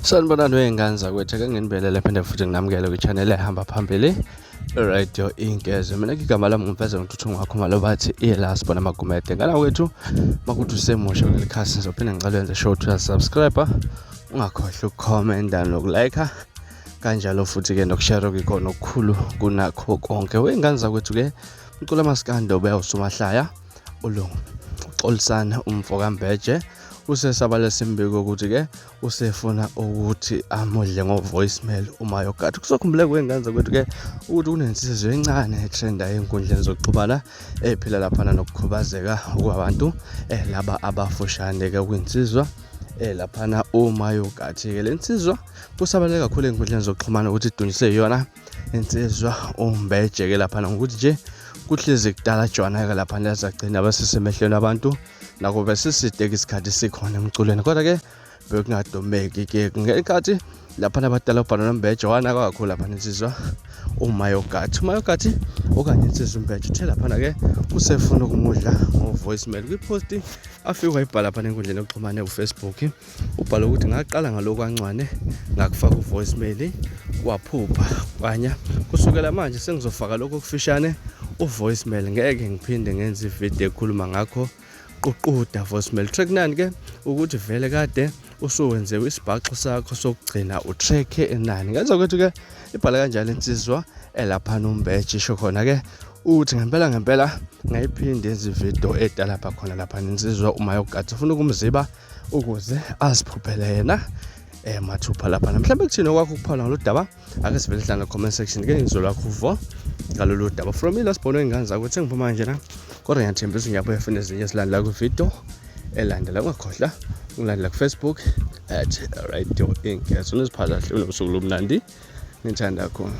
sanibonani wey'ngane zakwethu ake nginibelele phinde futhi nginamukele kwi-channel ehamba phambili radio inkeze mina ngigama lami ngumfeza ngithuthi ngwakho malo bathi iyelas bona magumede ngala kwethu makuthi usemusha kuleli khasi ngizophinde ngicela wenze show to subscribe ungakhohlwa ukukhomenta nokulayikha kanjalo futhi-ke nokushare kuyikhona okukhulu kunakho konke wey'ngane zakwethu-ke Ucula maskanda ubeya usumahlaya ulungu uxolisana umfo kambeje usesabala simbiko ukuthi ke usefuna ukuthi amudle ngo-voicemail uma yogathi kusokhumbule kwengane zakwethu ke ukuthi kunensizwe encane etrenda ey'nkundleni zokuxhumana ephila laphana nokukhubazeka kwabantu eh, laba abafushane ke kwinsizwa eh laphana uma yogathi-ke le nsizwa kusabaleke kakhulu ey'nkundleni zokuxhumana ukuthi idunjiswe yona insizwa umbejeke lapha ngokuthi nje kuhlezi kudala jwana-ke lapha nezagcina besisemehlweni abantu nako besiside-ke isikhathi sikhona emculweni kodwa-ke bekungadomeki-ke ngenkathi lapha nabadala ubhalo nombeje wanaka kakhulu lapha insizwa umayogathi umayogathi okanye insizwa umbeje uthe laphana-ke usefuna ukumudla ngo-voicemail kwiposti afike wayibhala phana enkundleni yokuxhumane ufacebook ubhale ukuthi ngaqala ngalokwancwane ngakufaka uvoicemail waphupha kwanya kusukela manje sengizofaka lokho okufishane uvoicemail ngeke ngiphinde ngenze ivideo ekhuluma ngakho ququda voicemail track nani ke ukuthi vele kade usuwenzewe isibhaxo sakho sokugcina utrack enani ngenza ukuthi ke ibhala kanjalo insizwa elapha nombeji isho khona ke uthi ngempela ngempela ngayiphinde izividiyo edalapha khona lapha ninsizwa uma yokugathi ufuna ukumziba ukuze aziphuphele yena eh mathupha lapha mhlawumbe kuthini okwakho ukuphawula ngalo daba ake sivele sidlala comment section ke ngizwe lakho uvo ngalolu daba from ilast bono ingane zakho ukuthi ngiphuma nje na kodwa ngiyathembisa ngiyabuya funa ezinye silandela kwividiyo elandela ungakhohlwa ulandela kufacebook at radio inc soniziphatha hle unobusuku lomnandi ngithanda khona